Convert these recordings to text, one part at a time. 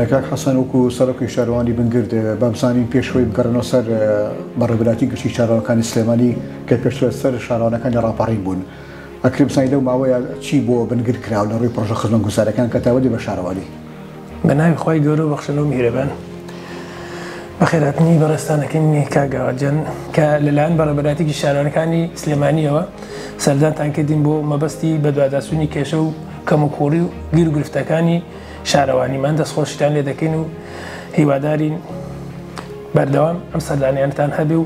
کاک حەسەن وەکو سەرۆکی شارەوانی بنگرد بەمسانین پێشوەی بگەڕنەوە سەر بەڕێبراتی گشتی شارەوەکانی سلێمانی کە پێشوە سەر شارانەکانی ڕاپەڕین بوون ئەکرم سانی لەو ماوەیە چی بۆ بنگر کراوە لە ڕووی پڕۆژە خزمە گوسارەکان کە تاوەدی بە شارەوانی؟ بە ناوی خوای گەورە و بەخشندە و میهرەبان. بەخێرهاتنی بەڕێزتانەکەین کاک گاوادجان کە لەلایەن بەڕێوەبەرایەتیی شارەوانەکانی سلێمانییەوە سەردانتان کردین بۆ مەبەستی بەدواداچوونی کێشە و کەموکووڕی و گیروگرفتەکانی شارەوانیمان دەستخۆشیتان لێ دەکەین و هیوادارین بەردەوام ئەم سەردانیانەتان هەبێ و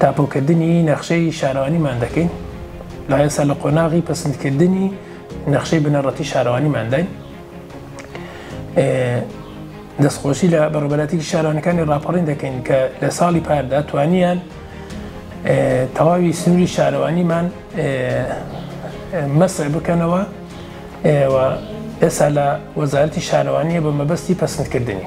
تاپۆکردنی نەخشەی شارەوانیمان دەکەین، لە ئێستا لە قۆناغی پەسندکردنی نەخشەی بنەڕەتی شارەوانیمانداین. دەستخۆشی لە بەڕێوەبەرایەتیی شارەوانیەکانی ڕاپەڕین دەکەین کە لە ساڵی پاردا توانیان تەواوی سنووری شارەوانیمان مەسح بکەنەوە و ئێستا لە وەزارەتی شارەوانییە بە مەبەستی پەسندکردنی.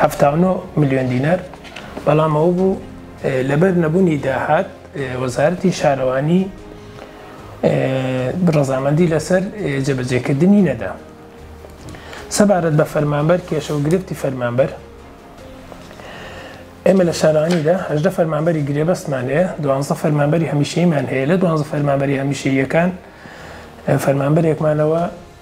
حەفتا و نۆ ملیۆن دینار، بەڵام ئەوە بوو لەبەر نەبوونی داهات وەزارەتی شارەوانی ڕەزامەندی لەسەر جێبەجێکردنی نەدا. سەبارەت بە فەرمانبەر کێشە و گرفتی فەرمانبەر ئێمە لە شارانیدا هەژدە فەرمانبەری گرێبەستمان هەیە دوانزە فەرمانبەری هەمیشەیمان هەیە لە دوانزە فەرمانبەری هەمیشەیەکان فەرمانبەرێکمانەوە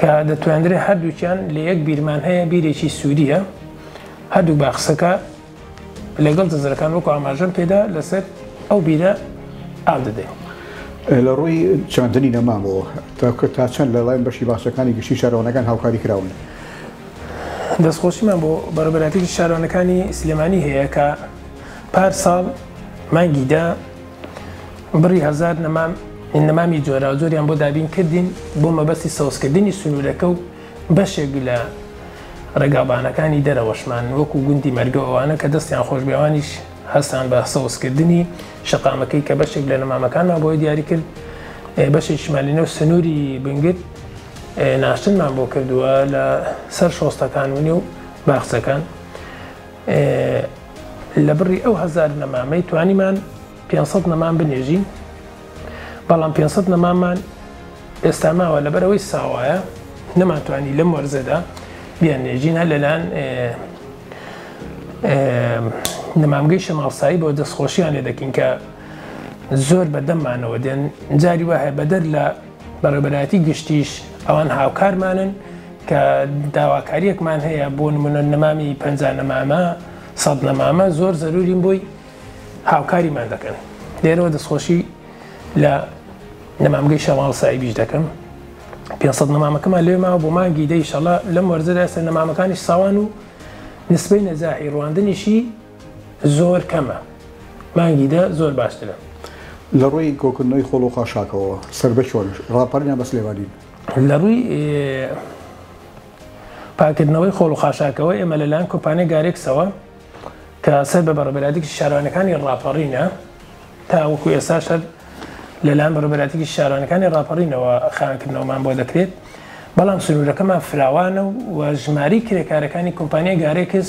کە دەتواندرێ هەردووکیان لە یەک بیرمان هەیە بیرێکی سووریە هەردوو باخسەکە لەگەڵ دزرەکان وەکو ئاماژەم پێدا لەسەر ئەو بیرە ئاو دەدەین. لە ڕووی چاندنی نەمامەوە تاکە تا چەند لە لایەن بەشی باسەکانی گشتی شارەوانەکان هاوکاری کراون. دەستخۆشیمان بۆ بەڕێبەرایەتیی شارەوانەکانی سلێمانی هەیە کە پار ساڵ مانگی دە، بڕی هەزار نەمام نەمامی جۆراوجۆریان بۆ دابین کردین بۆ مەبەستی سەوزکردنی سنوورەکە و بەشێک لە ڕێگابانەکانی دەرەوەشمان وەکو گوندی مەرگەوەوانە کە دەستیان خۆشبێوانیش هەستان بە سەوزکردنی شقامەکەی کە بەشێک لە نەمامەکانمان بۆی دیاری کرد بەشێک شمالینە و سنووری بنگت ناشتنمان بۆ کردووە لە سەر شۆستەکان ونێ و باخچەکان لە بڕی ئەو هەزار نەمامەی توانیمان 500 نەمان بنێژین بەڵام 500 نەمامان ئێستا ماوە لەبەرەوەی ساوایە نەمانتوانی لەم وەرزەدا بیان نێژین هەر لەلاەن نەمامگەی شەماڵسایی بۆ دەستخۆشییان لێ دەکەین کە زۆر بەدەممانەوە دێن جاری وایە بەدەر لە بەڕێوەبەرایەتی گشتیش ئەوان هاوکارمانن کە داواکاریەکمان هەیە بۆ نمونە نەمامی پەنجا نەمامە سەد نەمامە زۆر زەرورین بۆی هاوکاریمان دەکەن لێرەوە دەستخۆشی لە نەمامگەی شەماڵ سایبیش دەکەم پێ سەد نەمامەکەمان لێ ماوە بۆ مانگی دەیشەڵە لەم وەرزەدا ئێستا نەمامەکانیش ساوان و نسبەی نەجاحی ڕواندنیشی زۆر کەمە مانگی دە زۆر باشترە. لە ڕووی کۆکردنەوەی خۆڵ و خاشاکەوە سربە چۆن ڕاپەرینە بە سلێمانین لە ڕووی پاکردنەوەی خۆڵ و خاشاکەوە ئێمە لەلاەن کۆمپانیای گارێکسەوە کە سەر بە بەڕبەراتێکی شارانەکانی ڕاپەڕینە تاوەکو ئێستا شەر لەلاەن بەڕبەراتێکی شارانەکانی ڕاپەڕینەوە خانکردنەوەمان بۆ دەکرێت بەڵام سنوورەکەمان فراوانە و ژماری کرێکارەکانی کۆمپانیای گارێکس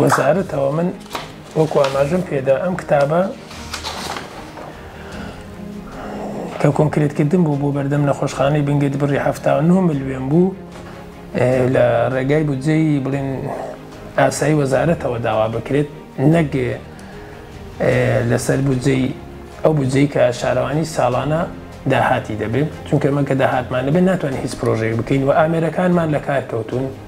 وەزارەتەوە من وەکو ئاماژم پێدا ئەم کتابە کە کۆنکرێتکردن بوو بۆ بەردەم نەخۆشخانەی بنگت بڕی ه ملیێن بوو لە ڕێگای بودجەی بڵێن ئاسایی وەزارەتەوە داوا بکرێت نەک لەسەر بودجەی ئەو بودجەی کە شارەوانی ساڵانە داهاتی دەبێت چونکە من کە داهاتمان دەبێت ناتوانین هیچ پرۆژێک بکەین و ئامێرەکانمان لە کار کەوتون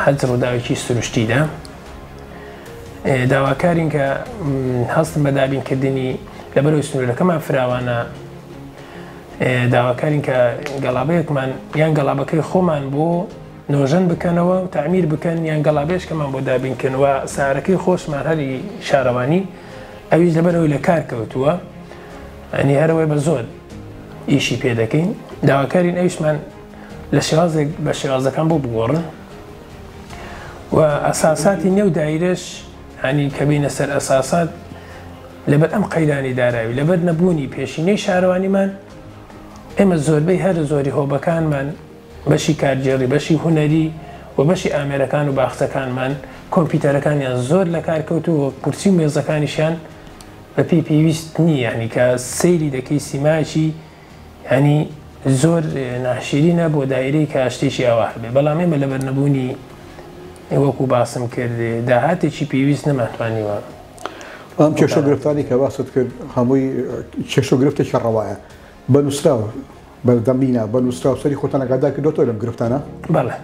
حەج ڕووداوێکی سروشتیدا داواکارین کە هەستن بە دابینکردنی لەبەرەوەی سنوورەکەمان فراوانە داواکارین کە گەڵابەیەکمان یان گەڵابەکەی خۆمان بۆ نۆژەن بکەنەوە و تعمیر بکەن یان گەڵابێشکەمان بۆ دابینکەنەوە سارەکەی خۆشمان هەری شارەوانی ئەویش لەبەرەوەی لە کار کەوتووە ئەنی هەرەوەی بە زۆر ئیشی پێ دەکەین داواکارین ئەویشمان لە شێوازێک بە شێوازەکان بۆ بگۆڕن و ئەساساتی نێو دایرەش هەنی کە بینە سەر ئەساسات لەبەر ئەم قەیرانی داراوی لەبەر نەبوونی پێشینەی شارەوانیمان ئێمە زۆربەی هەر زۆری هۆبەکانمان بەشی کارگێڕی بەشی هوەری و بەشی ئامێرەکان و باخچەکانمان کۆمپیوتەرەکانیان زۆر لە کار کەوتو و کورسی و مێزەکانیشیان بەپی پێویست نییانی کە سەیری دەکەی سیمایکی یانی زۆر ناشیرینە بۆ دایرەی کە شتێکی ئاوا هەبێ بەڵام ئێمە لەبەر نەبوونی وەکو باسم کرد داهاتێکی پێویست نەمانتوانیوە ئەم کێشە گرفتانی کە باست کرد هەمووی کێش و گرفتێکی ڕەوایە بە نووسراوە بەردەمینا بە نووسراو سەری خۆتانەگادا کردوەوە لەم گرفتانە بەڵێ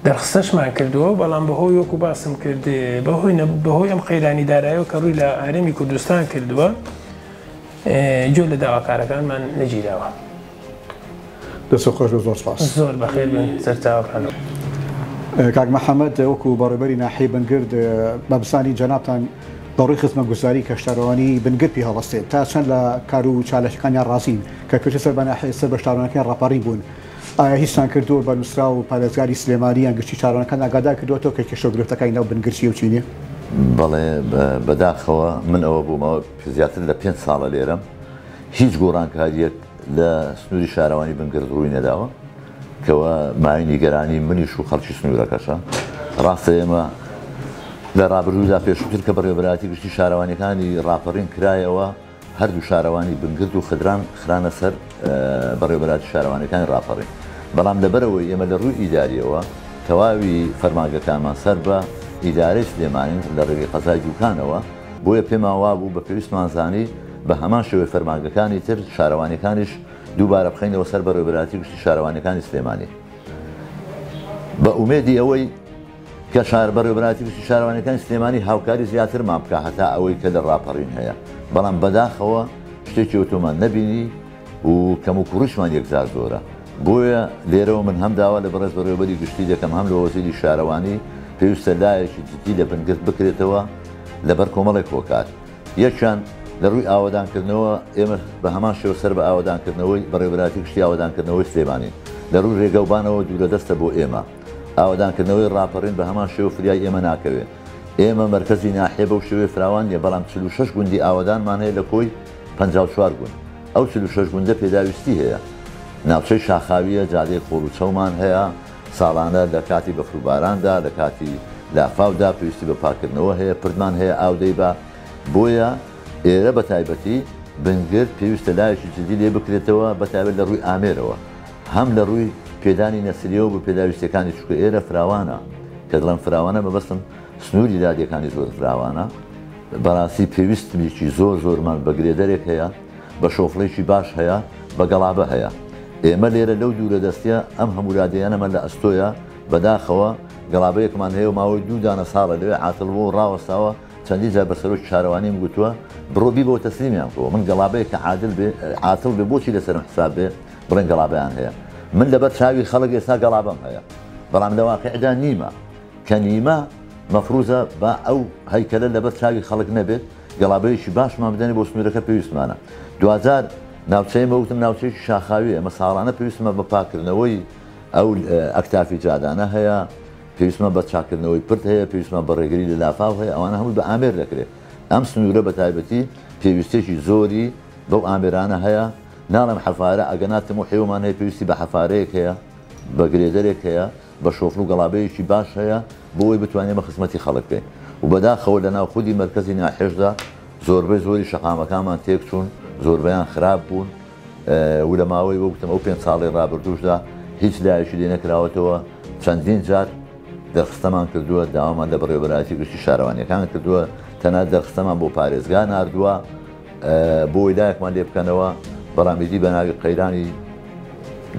دەرخسەشمان کردووە بەڵام بەهۆی وەکو باسم کرد بەهۆی بەهۆی ئەم قەیرانی دارایەوە کە ڕووی لە ئارەمی کوردستان کردووە گوێ لە داواکارەکانمان نەگیراوە. دەستت خۆش بێت زۆر سپاس. زۆر بەخێر بن سەرچاوەکان. کاک محمد وەکو بەڕێوبەری ناحیەی بنگرد بەبزانی جەنابتان بەڕووی خزمەتگوزاری کەشتارەوانی بنگرد پێ هەڵەستێت تا چەند لە کار و چالاکیەکانیان ڕازین کە پێشتر سەر بە ناحیە سەر بە شارەوانەکەیان ڕاپەڕین بوون ئایا هیچتان کردووە بە نووسراو پارێزگاری سلێمانی یان گشتی شارەوانەکان ئاگادار کردووەتەوە کە کێشە و گرفتەکانی ناو بنگرد چیە و چی نیە؟ بەڵێ بەداخەوە من ئەوە بوومە زیاتر لە پێنج ساڵە لێرەم، هیچ گۆڕانکارییەک لە سنووری شارەوانی بنگرد ڕووی نەداوە، کەوا مایەی نیگەرانیی منیش و خەڵکی سنوورەکەشە. ڕاستە ئێمە لە ڕابردوودا پێشووتر کە بەڕێوەبەرایەتی گشتی شارەوانییەکانی ڕاپەڕین کرایەوە، هەردوو شارەوانی بنگرد و خدران خرانە سەر بەڕێوەبەرایەتی شارەوانییەکانی ڕاپەڕین، بەڵام لەبەرئەوەی ئێمە لە ڕووی ئیدارییەوە تەواوی فەرمانگەکانمان سەر بە ئیدارەی سلێمانین لە ڕێگەی قەزای دووکانەوە، بۆیە پێمان وابوو بە پێویستمان زانی بە هەمان شێوەی فەرمانگەکانی تر شارەوانیەکانیش دووبارە بخەینەوە سەر بەڕێوەبەرایەتی گشتی شارەوانیەکانی سلێمانی بە ئومێدی ئەوەی کە شار بەڕێوەبەرایەتی گشتی شارەوانیەکانی سلێمانی هاوکاری زیاترمان بکە هەتا ئەوەی کە لە ڕاپەڕین هەیە بەڵام بەداخەوە شتێکی ئۆتۆمان نەبینی و کەموکوڕیشمان یەکجار زۆرە، بۆیە لێرەوە من هەم داوا لە بەڕێز بەڕێوەبەری گشتی دەکەم هەم لە وەزیری شارەوانی، پێویستە لایەکی جدی لە بنگرد بکرێتەوە لەبەر کۆمەڵێک هۆکار، یەکیان لە ڕووی ئاوەدانکردنەوە ئێمە بە هەمان شێوە سەر بە ئاوەدانکردنەوەی بەڕێوەبەرایەتی گشتی ئاوەدانکردنەوەی سلێمانین، لە ڕووی ڕێگە و بانەوە دوورە دەستە بۆ ئێمە، ئاوەدانکردنەوەی ڕاپەڕین بە هەمان شێوە فریای ئێمە ناکەوێت، ئێمە مەرکەزی ناحیە بەو شێوەیە فراوان نییە، بەڵام چل و شەش گوندی ئاوەدانمان هەیە لە کۆی. پەنجا و چوار گوند، ئەو چل و شەش گوندە پێداویستی هەیە. ناوچەی شاخاوییە، جادەی خۆڵ و چەومان هەیە، ساڵانە لە کاتی بەفروباراندا، لە کاتی لافاودا پێویستی بە پاککردنەوە هەیە، پردمان هەیە ئاو دەیبا، بۆیە ئێرە بە تایبەتی بنگرد پێویستە لایەکی جددی لێ بکرێتەوە، بە تایبەت لە ڕووی ئامێرەوە، هەم لە ڕووی پێدانی نەسرییەوە بۆ پێداویستییەکانی، چونکە ئێرە فراوانە، کە دڵێم فراوانە مەبەستم سنووری دادییەکانی زۆر فراوانە. بەراستی پێویستنێکی زۆر زۆرمان بە گرێدەرێک هەیە بە شۆفڵێکی باش هەیە بە گەڵابە هەیە ئێمە لێرە لەو دوورە دەستیە ئەم هەمورادەیەنەمە لە ئەستۆیە بەداخەوە گەڵابەیەکمان هەیە و ماوەی دوو دانە ساڵە لەوێ عاتڵ بۆ ڕاوەستاوە چەندی جا بە سەرۆکی شارەوانیم گوتووە بڕۆ بی بۆ تەسلیمیان کۆ من گەڵابەیە کە عادل بێ عاتڵ بێ بۆچی لەسەرم حساب بێ بڵێن گەڵابیان هەیە من لەبەر چاوی خەڵک ئێستا گەڵابەم هەیە بەڵام لە واقعدا نیمە کە نیمە مەفروزە با ئەو هەیکەلە لەبەر چاوی خەڵک نەبێت گەڵابەیەکی باشمان بدەنێ بۆ سنوورەکە پێویستمانە دواجار ناوچەی مەوتم ناوچەیەکی شاخاوی ئەمە ساڵانە پێویستمە بە پاکردنەوەی ئەو ئەکتافی جادانە هەیە پێویستمە بە چاکردنەوەی پرد هەیە پێویستمە بە ڕێگری لە لافاو هەیە ئەوانە هەمووی بە ئامێر دەکرێت ئەم سنوورە بە تایبەتی پێویستێکی زۆری بەو ئامێرانە هەیە ناڵێم حەفارە ئەگەنا تموحێومان هەیە پێویستی بە حەفارەیەک هەیە بە گرێدەرێک هەیە بە شۆفڵ و گەڵابەیەکی باش هەیە بۆ ئەوەی بتوانین ئێمە خزمەتی خەڵک بکەین و بەداخەوە لە ناو خودی مەرکەزی ناحێشدا زۆربەی زۆری شەقامەکانمان تێکچوون، زۆربەیان خراپ بوون و لە ماوەی وەک وتم ئەو پێنج ساڵەی رابردووشدا هیچ لایەکی لێ نەکراوەتەوە، چەندین جار دەرخستەمان کردووە، داوامان لە بەڕێوەبەرایەتی گشتی شارەوانییەکان کردووە، تەنانەت دەرخستەمان بۆ پارێزگا ناردووە. بۆی لایەکمان لێ بکەنەوە بەڕامیدی بە ناوی قەیرانی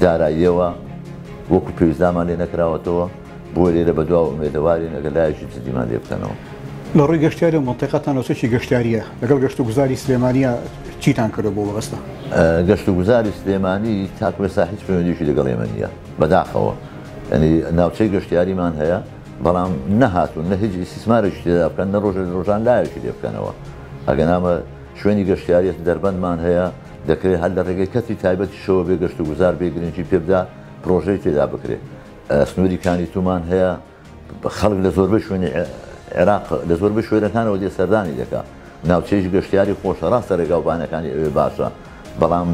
داراییەوە وەکو پێویستدامان لێ نەکراوەتەوە بۆ لێرە بە دواوە ئومێدەوارین ئەگەر لایەکی جدیمان لێ بکەنەوە. لە ڕووی گەشتیاری و مەنتیقەتان و چەکی گەشتیارییە لەگەڵ گەشت و گوزاری سلێمانییە چیتان کردوە بۆ وەبەستە؟ گەشت و گوزاری سلێمانی تاکوێسا هیچ پەیوەندیشی لەگەڵ ئێمە نییە بەداخەوە یعنی ناوچەی گەشتیاریمان هەیە، بەڵام نەهاتوون نە هیچ ئیسیسمارێکی تێدا بکەن نە ڕۆژە ڕۆژان لایەکی لێ بکەنەوە ئەگەنامە شوێنی گەشتیاریت دەربەندمان هەیە دەکرێت هەر لە ڕێگەی کەسی تایبەتی شەوە بێ گەشت و گوزار بێ گرنگی پێبدا پرۆژەی تێدا بکرێت سنووری کانی تومان هەیە خەڵک لە زۆربەی شوێنی عێراق لە زۆربەی شوێنەکانەوە دێ سەردانی دەکات ناوچەیش گەشتیاری خۆشە ڕاستە ڕێگاو بانەکانی ئەوێ باشە بەڵام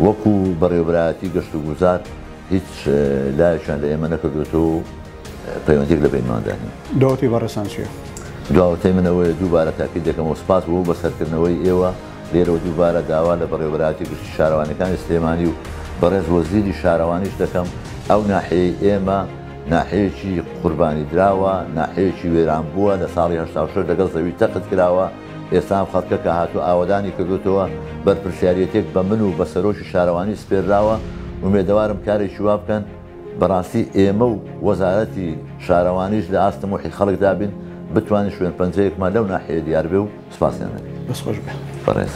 وەکو بەڕێوەبرایەتی گەشت و گوزار هیچ لایەکیان لە ئێمە نەکردوێتەوە و پەیوەندیک لە بەینماندا نیە. دواوتەی بەڕێزتان چیە؟ دواوتەی من ئەوەیە دووبارە تاکید دەکەمەوە سپاس بۆ بەسەرکردنەوەی ئێوە لێرەوە دووبارە داوا لە بەڕێوەبەرایەتی گشتی شارەوانیەکانی سلێمانی و بەڕێز وەزیری شارەوانیش دەکەم ئەو ناحیەی ئێمە ناحیەیەکی قوربانیدراوە، ناحیەیەکی وێرانبووە، لە ساڵی هەشتا و شەش لەگەڵ زەوی تەخت کراوە، ئێستا ئەم خەڵکە کە هاتووە ئاوەدانی کردووتەوە، بەرپرسیاریەتێک بە من و بە سەرۆکی شارەوانی سپێرراوە، ئومێدەوارم کارێکی وا بکەن، بەڕاستی ئێمە و وەزارەتی شارەوانیش لە ئاست تەموحی خەڵکدا بین، بتوانین شوێنپەنجەیەکمان لەو ناحیەیە دیار بێ و سوپاسیان لێ بکەین. دەست خۆش بێ. بەڕێز.